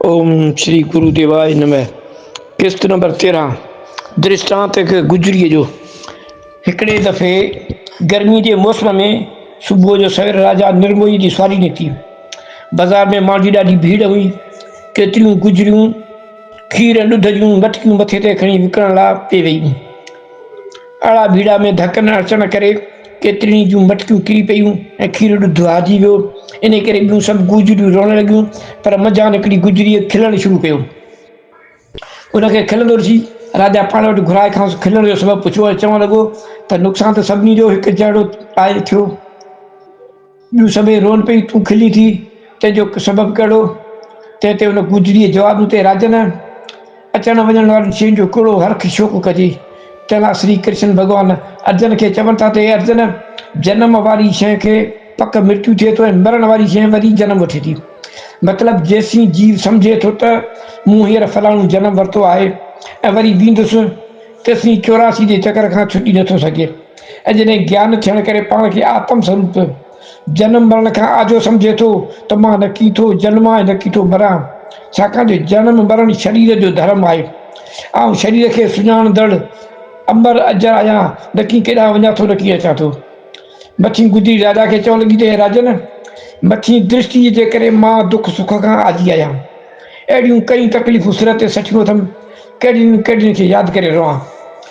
اوم شري گرو ديواء نمه قسط نمبر تيرهن درشٽانت هڪ گجريء جو هڪڙي دفعي گرمي جي موسم ۾ صبح جو سوير راجا نرموئي جي سواري نڪتي بازار ۾ ماڻهن جي ڏاڍي ڀيڙ هئي ڪيتريون گجريون کير ۽ ڏڌ جون مٽڪيون مٿي تي کڻي وڪڻڻ لاء پئي ويئي اھڙا ڀيڙا ۾ ڌڪ نه اچڻ ڪري ڪيترين ئي جون مٽڪيون ڪري پيون ۽ کير ڏڌ آجي ويو. انھي ڪري ٻيون سڀ گوجريون روئڻ لڳيون پر منجھان ھڪڙي گوجريء کلڻ شروع ڪيو. ان کي کلندو ڏسي راجا پاڻ وٽ گھرائي کانئس کلڻ جو سبب پڇيو ۽ چوڻ لڳو ته نقصان ته سڀني جو ھڪ جھڙو آھي ٿيو. ٻيون سڀئي رون پيون، تون کلين ٿي، تنهن جو سبب ڪهڙو؟ تنهن تي ان گوجريء جواب ڏنو ته راجن! اچڻ وڃڻ وارين شين جو ڪهڙو هرک شوق ڪجي؟ تنهن لاء شري ڪرشن ڀڳوان ارجن کي چون ٿا ته اي ارجن! جنم واري شيء کي پڪ مرتيو ٿئي ٿو ۽ مرڻ واري شيء وري جنم وٺي ٿي. مطلب جيسين جيو سمجهي ٿو ته مون هينئر فلاڻو جنم ورتو آهي ۽ وري ويندس، تيسين چوراسي جي چڪر کان ڇٽي نٿو سگهي. ۽ جڏهن گيان ٿيڻ ڪري پاڻ کي آتم سوروپ جنم مرڻ کان آجو سمجهي ٿو ته مان نه ڪي ٿو جنمان ۽ نه ڪي ٿو مران، ڇاڪاڻ جو جنم مرڻ شرير جو ڌرم آهي. آئون شرير کي سڃاڻندڙ امر اجر آهيان، نه ڪي ڪيڏانهن وڃان ٿو نه ڪي اچان ٿو. مٿين گدڙي راجا کي چوڻ لڳي ته اي راجن! مٿين درشٽيء جي ڪري مان دک سک کان آجي آهيان. اهڙيون ڪئين تڪليفون سر تي سٺيون اٿم، ڪهڙين ڪهڙين کي ياد ڪري روئان.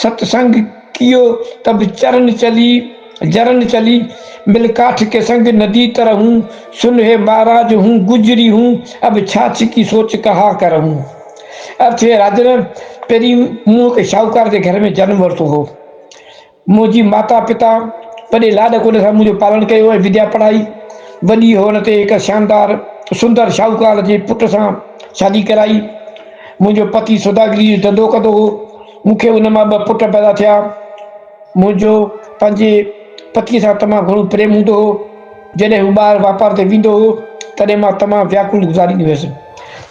ست سنگ ڪيو ته به چرن چلي، جرن چلي، مل ڪاٺ ڪي سنگ ندي تر هون، سن هي مهاراج هون گجري هون، اب ڇاڇ ڪي سوچ ڪهان ڪرهون. ارٿ هي راجن پهرين مون هڪ شاهوڪار جي گهر ۾ جنم ورتو هو. منهنجي ماتا پتا وڏي لاڏ ڪوڏ سان منهنجو پالڻ ڪيو ۽ وديا پڙهائي. وڏي هئڻ تي هڪ شاندار سندر شاهوڪار جي پٽ سان شادي ڪرائي. منهنجو پتي سوداگريء جو ڌنڌو ڪندو هو. مون کي ان مان ٻه پٽ پيدا ٿيا. منهنجو پنهنجي پتيء سان تمام گهڻو پريم هوندو هو. جڏهن هو ٻاهر واپار تي ويندو هو، تڏهن مان تمام وياڪل گذاريندي هيس.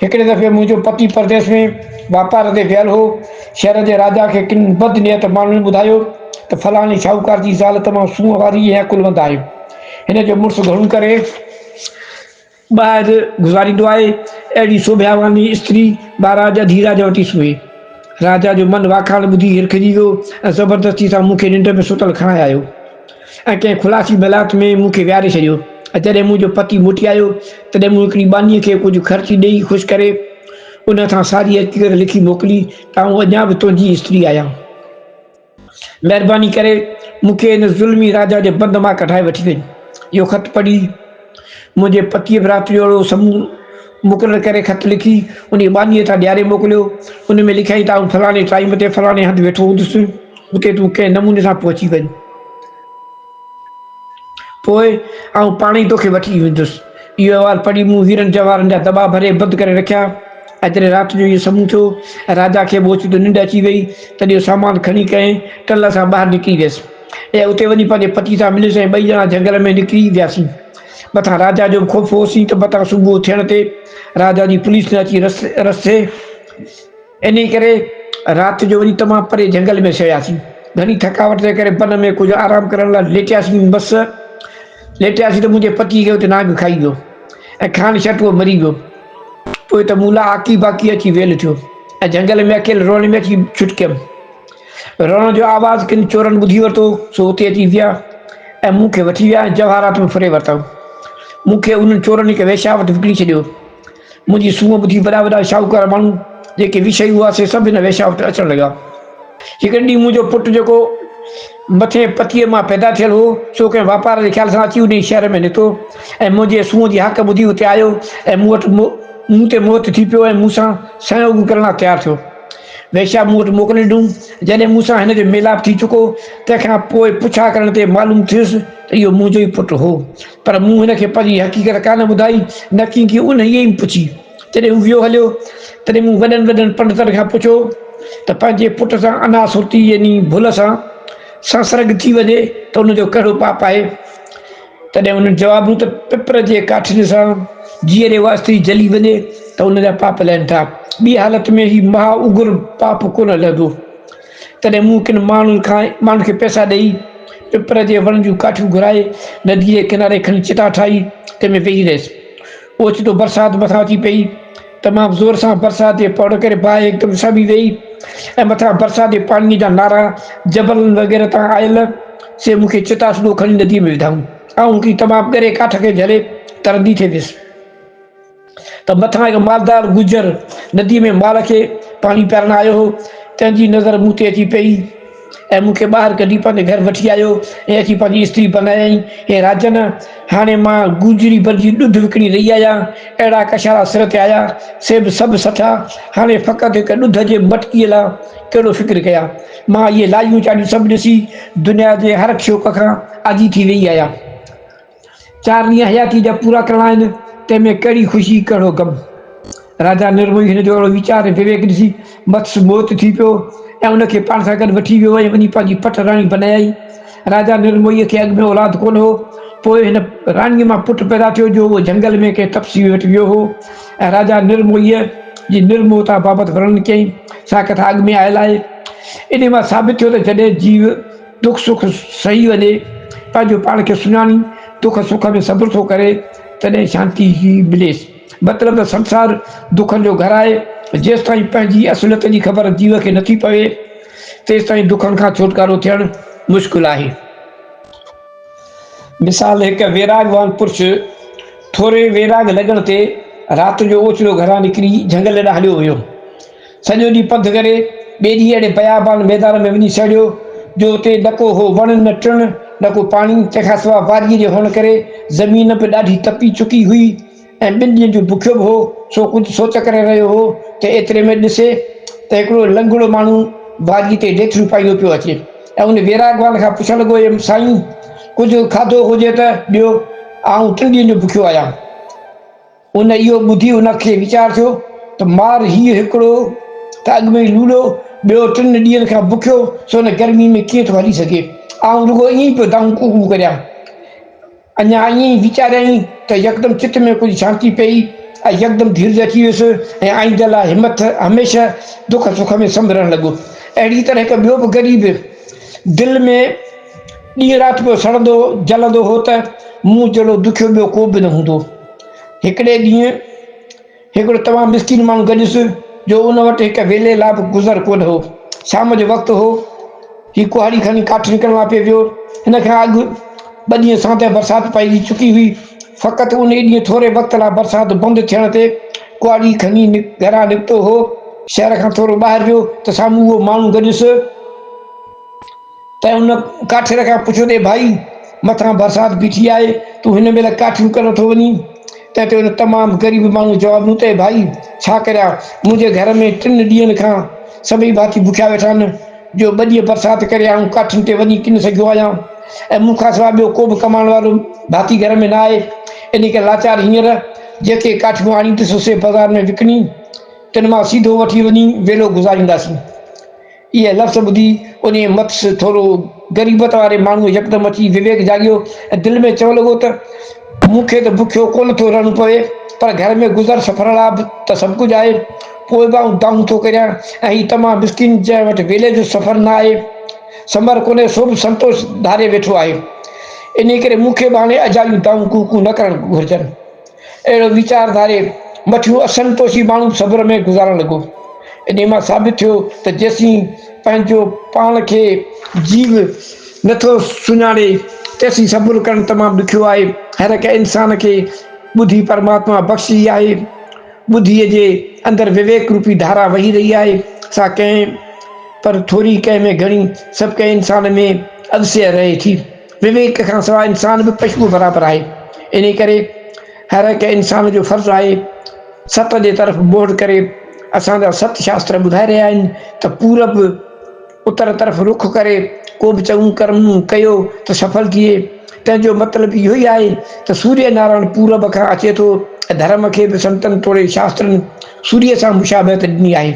هڪڙي دفعي منهنجو پتي پرديس ۾ واپار تي ويل هو. شهر جي راجا کي ڪن بد نيت ماڻهن ٻڌايو ته فلاڻي شاهوڪار جي زال تمام سونهن واري ۽ عقلمند آهي. هن جو مڙس گهڻو ڪري. ٻاهر گذاريندو آهي. اهڙي سوڀياواني استري مهاراجا ڌيراجا وٽ ئي سمهي. راجا جو من واکاڻ ٻڌي هرکجي ويو ۽ زبردستي سان مون کي ننڊ ۾ ستل کڻائي آيو ۽ ڪنهن خلاصي ملائت ۾ مون کي ويهاري ڇڏيو ۽ جڏهن منهنجو پتي موٽي آيو تڏهن مون هڪڙي ٻانهيء کي ڪجهه خرچي ڏيئي خوش ڪري ان کان ساري حقيقت لکي موڪلي ته آئون اڃا به تنهنجي ئي استري آهيان. مهرباني ڪري مون کي ان ظلمي راجا جي بند مان ڪڍائي وٺي وڃ. اهو خط پڙهي منهنجي پتيء براتريء اهڙو سمون مقرر ڪري خط لکي انهيء ٻانهيء تان ڏياري موڪليو. ان ۾ لکيائين ته آئون فلاڻي ٽائيم تي فلاڻي هنڌ ويٺو هوندس. اتي تون ڪنهن نموني سان پهچي وڃ. پوء آئون پاڻ ئي توکي وٺي ويندس. اهو احوال پڙهي مون هيرن جواهرن جا دٻا ڀري بند ڪري رکيا. ايتري رات جو اهو سمون ٿيو ۽ راجا کي به اوچتو ننڊ اچي ويئي، تڏهن اهو سامان کڻي ڪنهن ٽل سان ٻاهر نڪري ويس. اهي اتي وڃي پنهنجي پتي سان مليس ۽ ٻئي ڄڻا جهنگل ۾ نڪري وياسين. مٿان راجا جو به خوف هوسين ته متان صبح ٿيڻ تي راجا جي پوليس نه اچي رستي انهيء ڪري رات جو وڃي تمام پري جهنگل ۾ سهياسين. گهڻي ٿڪاوٽ جي ڪري بن ۾ ڪجهه آرام ڪرڻ لاء ليٽياسين. بس ليٽياسين ته منهنجي پتيء کي اتي نانگ کائي ويو ۽ کان شٽ اهو مري ويو. پوء ته مون لاء آڪي باڪي اچي ويل ٿيو ۽ جهنگل ۾ اڪيل روئڻ ۾ اچي ڇٽڪيم. روئڻ جو آواز ڪن چورن ٻڌي ورتو، سو اتي اچي ويا ۽ مون کي وٺي ويا ۽ جواهرات ۾ ڦري ورتائون. مون کي انهن چورن هڪ ويشيا وٽ وڪڻي ڇڏيو. منهنجي سونهن ٻڌي وڏا وڏا شاهوڪار ماڻهو جيڪي ويشائي هئا سي سڀ هن ويشاء وٽ اچڻ لڳا. هڪڙي ڏينهن منهنجو پٽ جيڪو مٿين پتيء مان پيدا ٿيل هو سو ڪنهن واپار جي خيال سان اچي انهيء شهر ۾ نتو ۽ منهنجي سونهن جي هاڪ ٻڌي اتي آيو ۽ مون وٽ مون تي موهت ٿي پيو ۽ مون سان سهيوڳ ڪرڻ لاء تيار ٿيو. ويشاء مون وٽ موڪل ڏنو. جڏهن مون سان هن جو ميلاپ ٿي چڪو تنهن کان پوء پڇا ڪرڻ تي معلوم ٿيس ته اهو منهنجو ئي پٽ هو. پر مون هن کي پنهنجي حقيقت ڪانه ٻڌائي، نه ڪنهن کي انهيء ئي پڇي. جڏهن هو ويو هليو، تڏهن مون وڏن وڏن پنڊتن کان پڇيو ته پنهنجي پٽ سان انا سرتي يعني ڀل سان سنسرگ ٿي وڃي ته ان جو ڪهڙو پاپ آهي؟ تڏهن انهن جواب ڏنو ته پپر جي ڪاٺين سان جيئري واسطي جلي وڃي ته ان جا پاپ لهن ٿا، ٻي حالت ۾ هي مها اگر پاپ ڪونه لهندو. تڏهن مون ڪن ماڻهن کان ماڻهن کي پئسا ڏيئي پپر جي وڻ جون ڪاٺيون گهرائي نديء جي ڪناري کڻي چٽا ٺاهي تنهن ۾ ويهي رهيس. اوچتو برسات مٿان اچي پيئي. تمام زور سان برسات جي پوڙهه ڪري باهه هڪدم سبي ويئي ۽ مٿان برسات جي پاڻيء جا نارا جبلن وغيره تان آيل سي مون کي چٽا سڌو کڻي نديء ۾ وڌائون. آئون هڪڙي تمام ڳري ڪاٺ کي جهلي ترندي ٿي ويس. ته مٿان هڪ مالدار گجر نديء ۾ مال کي پاڻي پيارڻ آيو هو، تنهن جي نظر مون تي اچي پيئي ۽ مون کي ٻاهر ڪڍي پنهنجي گهر وٺي آيو ۽ اچي پنهنجي استري بنايائين. هي راجن! هاڻي مان گوجري بر جي ڏڍ وڪڻي رهي آهيان. اهڙا ڪشارا سر تي آيا، سي به سڀ سٺا. هاڻي فقط هڪ ڏڍ جي مٽڪيء لاء ڪهڙو فڪر ڪيان؟ مان اهي لاهيون چاڙهيون سڀ ڏسي، دنيا جي هر شوق کان آجي ٿي ويئي آهيان. چار ڏينهن حياتيء جا پورا ڪرڻا آهن، تنهن ۾ ڪهڙي خوشي، ڪهڙو غم؟ راجا نرموهي هن جو اهڙو ويچار ۽ وويڪ ڏسي مٿس موهت ٿي پيو ۽ ان کي پاڻ سان گڏ وٺي ويو ۽ وڃي پنهنجي پٺ راڻي بنايائين. راجا نرموهيء کي اڳ ۾ اولاد ڪونه هو، پوء هن راڻيء مان پٽ پيدا ٿيو جو اهو جهنگل ۾ ڪنهن تپسويء وٽ ويو هو ۽ راجا نرموهيء جي نرموهتا بابت ورڻن ڪيائين. سا ڪٿا اڳ ۾ آيل آهي. انهيء مان ثابت ٿيو ته جڏهن جيو، دک سک سهي وڃي، پنهنجو پاڻ کي سڃاڻي، دک سک ۾ صبر ٿو ڪري، تڏهن شانتي مليس. مطلب ته سنسار دکن جو گهر آهي، جيستائين پنهنجي اصليت جي خبر جيو کي نٿي پوي، تيستائين دکن کان ڇوٽڪارو ٿيڻ مشڪل آهي. مثال، هڪ ويراڳوان پرڇ، ٿوري ويراڳ لڳڻ تي، رات جو اوچتو گهران نڪري جهنگل ڏانهن هليو ويو. سڄو ڏينهن پنڌ ڪري، ٻئي ڏينهن اهڙي بيابان ميدان ۾ وڃي سهڙيو، جو اتي نه ڪو هو وڻ نه ٽڻ، نه ڪو پاڻي، تنهن کان سواء واديء جي هئڻ ڪري زمين به ڏاڍي تپي چڪي هئي ۽ ٻن ڏينهن جو بکيو به هو، سو ڪجهه سوچ ڪري رهيو هو ته ايتري ۾ ڏسي ته هڪڙو لنگڙو ماڻهو واديء تي ڊيٿڙيون پائيندو پيو اچي ۽ ان ويراڳوان کان پڇڻ لڳو اي سائين! ڪجهه کاڌو هجي ته ڏيو، آئون ٽن ڏينهن جو بکيو آهيان. ان اهو ٻڌي ان کي ويچار ٿيو ته مار هيء هڪڙو ته اڳ ۾ ئي لوڙهو، ٻيو ٽن ڏينهن کان بکيو، سو هن گرميء ۾ ڪيئن ٿو هلي سگهي؟ آئون رڳو ائين ئي پيو دانهون ڪو ڪو ڪريان. اڃا ائين ئي ويچاريائين ته يڪدم چت ۾ ڪجهه شانتي پيئي ۽ يڪدم ڌيرج اچي ويس ۽ آئينده لاء همٿ هميشه دک سک ۾ سنڀرڻ لڳو. اهڙيء طرح هڪ ٻيو به غريب دل ۾ ڏينهن رات پيو سڙندو جلندو هو ته مون جهڙو دکيو ٻيو ڪو به نه هوندو. هڪڙي ڏينهن هڪڙو تمام مسڪين ماڻهو گڏيس جو ان وٽ هڪ ويلي لا به گذر ڪونه هو. شام جو وقت هو. هي ڪهاڙي کڻي ڪاٺ نڪرڻ لا پئي ويو. ان کان اڳ ٻه ڏينهن ساندهه برسات پئجي چڪي هئي. فقط ان ئي ڏينهن ٿوري وقت لا برسات بند ٿيڻ تي ڪهاڙي کڻي گهران نڪتو هو. شهر کان ٿورو ٻاهر ويو ته سامهون اهو ماڻهو گڏيس. تنهن ان ڪاٺير کان پڇيو ته ڀائي! مٿان برسات بيٺي آهي، تون هن مهل ڪاٺيون ڪرڻ ٿو وڃين؟ تنهن تي ان تمام غريب ماڻهوء جواب ڏنو ته ڀائي! ڇا ڪريان، منهنجي گهر ۾ ٽن ڏينهن کان سڀئي ڀاتي بکيا ويٺا آهن، جو ٻه ڏينهن برسات ڪري آئون ڪاٺين تي وڃي ڪين سگهيو آهيان ۽ مون کان سواء ٻيو ڪوبه ڪمائڻ وارو ڀاتي گهر ۾ نه آهي، انهيء ڪري لاچار هينئر جيڪي ڪاٺيون آڻيندس سي بازار ۾ وڪڻي تن مان سيڌو وٺي وڃي ويلو گذارينداسين. اهي لفظ ٻڌي انهيء مٿس ٿورو غريبت واري ماڻهوء يڪدم اچي وويڪ جاڳيو ۽ دل ۾ چوڻ لڳو ته، مون کي ته بکيو ڪونه ٿو رهڻو پوي، پر گهر ۾ گذر سڦر لاء به ته سڀ ڪجهه آهي، پوء به آئون دانهون ٿو ڪريان ۽ هي تمام مسڪين جنهن وٽ ويلي جو سفر نه آهي، سمر ڪونهي سو به سنتوش ڌاري ويٺو آهي، انهيء ڪري مون کي به هاڻي اجايون دانهون ڪوڪون نه ڪرڻ گهرجن. اهڙو ويچار ڌاري مٺيون اسن پوشي ماڻهو صبر ۾ گذارڻ لڳو. انهيء مان ثابت ٿيو ته جيسين پنهنجو پاڻ کي جيو نه ٿو سڃاڻي تيسين صبر ڪرڻ تمام ڏکيو آهي. هرهڪ انسان کي ٻڌي پرماتما بخشي آهي. ٻڌيء جي اندر وويڪ روپي ڌارا وهي رهي آهي. سا ڪنهن پر ٿوري ڪنهن ۾ گهڻي سڀڪنهن انسان ۾ اڌسيء رهي ٿي. وويڪ کان سواء انسان به پشوء برابر آهي، انهيء ڪري هر هڪ انسان جو فرض آهي ست جي طرف موڙ ڪري. اسان جا ست شاستر ٻڌائي رهيا آهن ته پورب، اتر، طرف رخ ڪري ڪو به چڱو ڪرم ڪيو ته سڦل ٿئي. تنهن جو مطلب اهو ئي آهي ته سوريه نارائڻ پورب کان اچي ٿو ۽ ڌرم کي به سنتن توڙي شاسترن سوريه سان مشابهت ڏني آهي.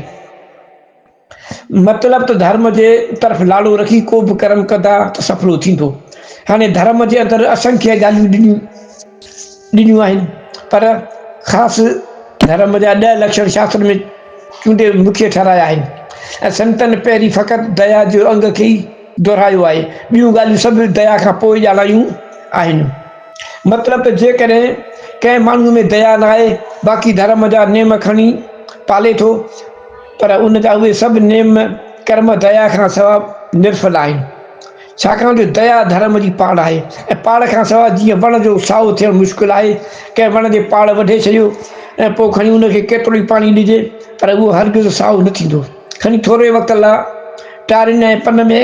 مطلب ته ڌرم جي طرف لاڙو رکي ڪو به ڪرم ڪندا ته سڦلو ٿيندو. هاڻي ڌرم جي اندر اسنکيه ڳالهيون ڏنيون ڏنيون آهن پر خاص ڌرم جا ڏهه لڪشڻ شاستر ۾ چونڊي مکيه ٺهرايا آهن ۽ سنتن پهرين فقط ديا جو انگ کي ئي دهرايو آهي ٻيون ڳالهيون سڀ ديا کان پوء ڄاڻايون آهن. مطلب ته جيڪڏهن ڪنهن ماڻهوء ۾ ديا ناهي، باقي ڌرم جا نيم کڻي پالي ٿو، پر ان جا اهي سڀ نيم ڪرم ديا کان سوا نرڦل آهن. ڇاڪاڻ جو ديا ڌرم جي پاڙ آهي ۽ پاڙ کان سوا جيئن وڻ جو سائو ٿيڻ مشڪل آهي، ڪنهن وڻ جي پاڙ وڍي ڇڏيو ۽ پوء کڻي ان کي ڪيترو ئي پاڻي ڏجي پر اهو هرگز سائو نه ٿيندو، کڻي ٿوري وقت لا ٽارين ۽ پن ۾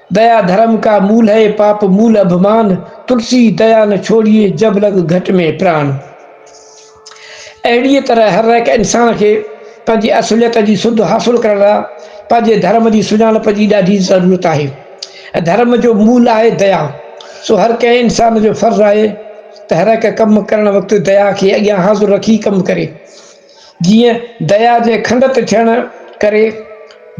ديا ڌرم ڪا مول هي پاپ مول اڀمان تلسي ديا نه ڇوڙيي جب لڳ گهٽ ۾ پراڻ اهڙيء طرح هر هڪ انسان کي پنهنجي اصليت جي سڌ حاصل ڪرڻ لاء پنهنجي ڌرم جي سڃاڻپ جي ڏاڍي ضرورت آهي ڌرم جو مول آهي ديا سو هر ڪنهن انسان جو فرض آهي ته هر هڪ ڪم ڪرڻ وقت ديا کي اڳيان حاضر رکي ڪم ڪري جيئن درياء جي کنڊ تي ٿيڻ ڪري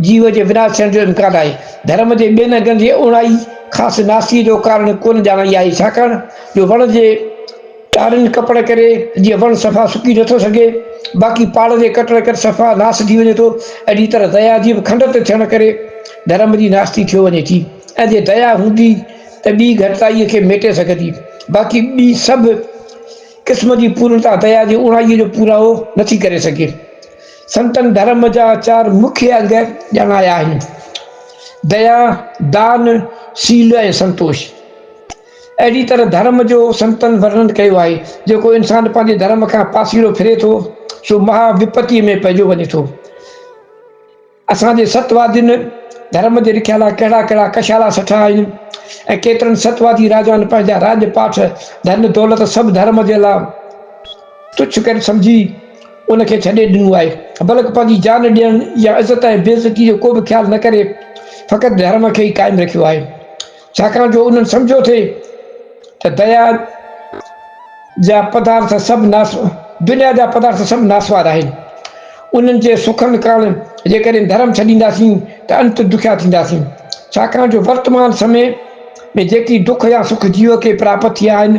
جيو جي وناس ٿيڻ جو امڪان آهي. ڌرم جي ٻين انگن جي اوڻائي خاص ناسي جو ڪارڻ ڪونه ڄاڻائي آهي، ڇاڪاڻ جو وڻ جي ٽارين ڪپڻ ڪري جيئن وڻ صفا سڪي نٿو سگهي، باقي پاڙ جي ڪٽڻ ڪري صفا ناس ٿي وڃي ٿو، اهڙي طرح درياء جي به کنڊ تي ٿيڻ ڪري ڌرم جي ناستي ٿيو وڃي ٿي ۽ جي درياء هوندي ته ٻي گهٽتائيء کي ميٽي سگهندي، باقي ٻي سڀ قسم جي پورڻتا ديا جي اوڻائيء جو پورائو نٿي ڪري سگهي. سنتن ڌرم جا چار مکيه انگ ڄاڻايا آهن، ديا، دان، سيل ۽ سنتوش. اهڙي طرح ڌرم جو سنتن ورڻن ڪيو آهي، جيڪو انسان پنهنجي ڌرم کان پاسيرو ڦري ٿو، سو مها وپتيء ۾ پئجو وڃي ٿو. اسان جي ست وادين ڌرم جي رکيا لاء ڪهڙا ڪهڙا ڪشالا سٺا آهن ۽ ڪيترن ست وادي راجائن پنهنجا راڄ پاٺ ڌن دولت سڀ ڌرم جي لاء تڇ ڪري سمجهي ان کي ڇڏي ڏنو آهي بلڪ پنهنجي جان ڏيڻ يا عزت ۽ بي عزتي جو ڪو به خيال نه ڪري فقط ڌرم کي ئي قائم رکيو آهي ڇاڪاڻ جو انهن سمجهيو ٿي ته دنيا جا پدارٿ سڀ ناس دنيا جا پدارٿ سڀ ناسوار آهن انهن جي سکن ڪرڻ جيڪڏهن ڌرم ڇڏينداسين ته انت دکيا ٿينداسين ڇاڪاڻ جو ورتمان سمي ۾ جيڪي دک يا سک جيو کي پراپت ٿيا آهن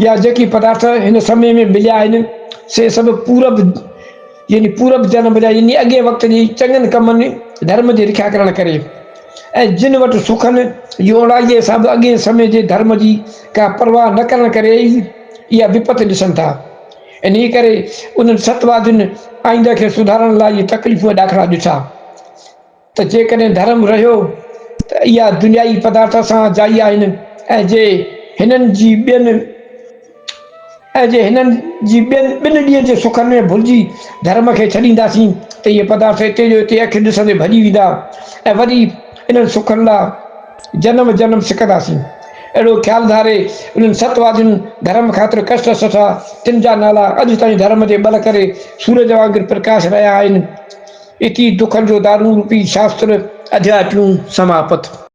يا جيڪي پدارٿ هن سمي ۾ مليا آهن، سي سڀ پورب يعني پورب جنم جا يعني اڳئين وقت جي چڱن ڪمن، ڌرم جي رکيا ڪرڻ ڪري ۽ جن وٽ سکن يوڙائيء حساب اڳئين سمي جي ڌرم جي ڪا پرواهه نه ڪرڻ ڪري ئي اها وپت ڏسن ٿا. انهيء ڪري انهن ستوادين آئنده کي سڌارڻ لاء اهي تڪليفون ۽ ڏاکڙا ڏٺا. ته جيڪڏهن ڌرم رهيو ته اها دنيائي پدارٿ سان جائي آهن ۽ جي هنن جي ٻين ۽ جي هنن جي ٻين ٻن ڏينهن جي سکن ۾ ڀلجي ڌرم کي ڇڏينداسين ته اهي پدارٿ اتي جو اتي اکيون ڏسندي ڀڄي ويندا ۽ وري انهن سکن لا جنم جنم سڪنداسين اهڙو خيال ڌاري انهن ست وادين ڌرم خاطر ڪشٽ سٺا تن جا نالا اڄ تائين ڌرم جي ٻل ڪري سورج وانگر پرڪاش رهيا آهن اتي دکن جو دارون روپي شاستر اڌيا ٽيون سماپت.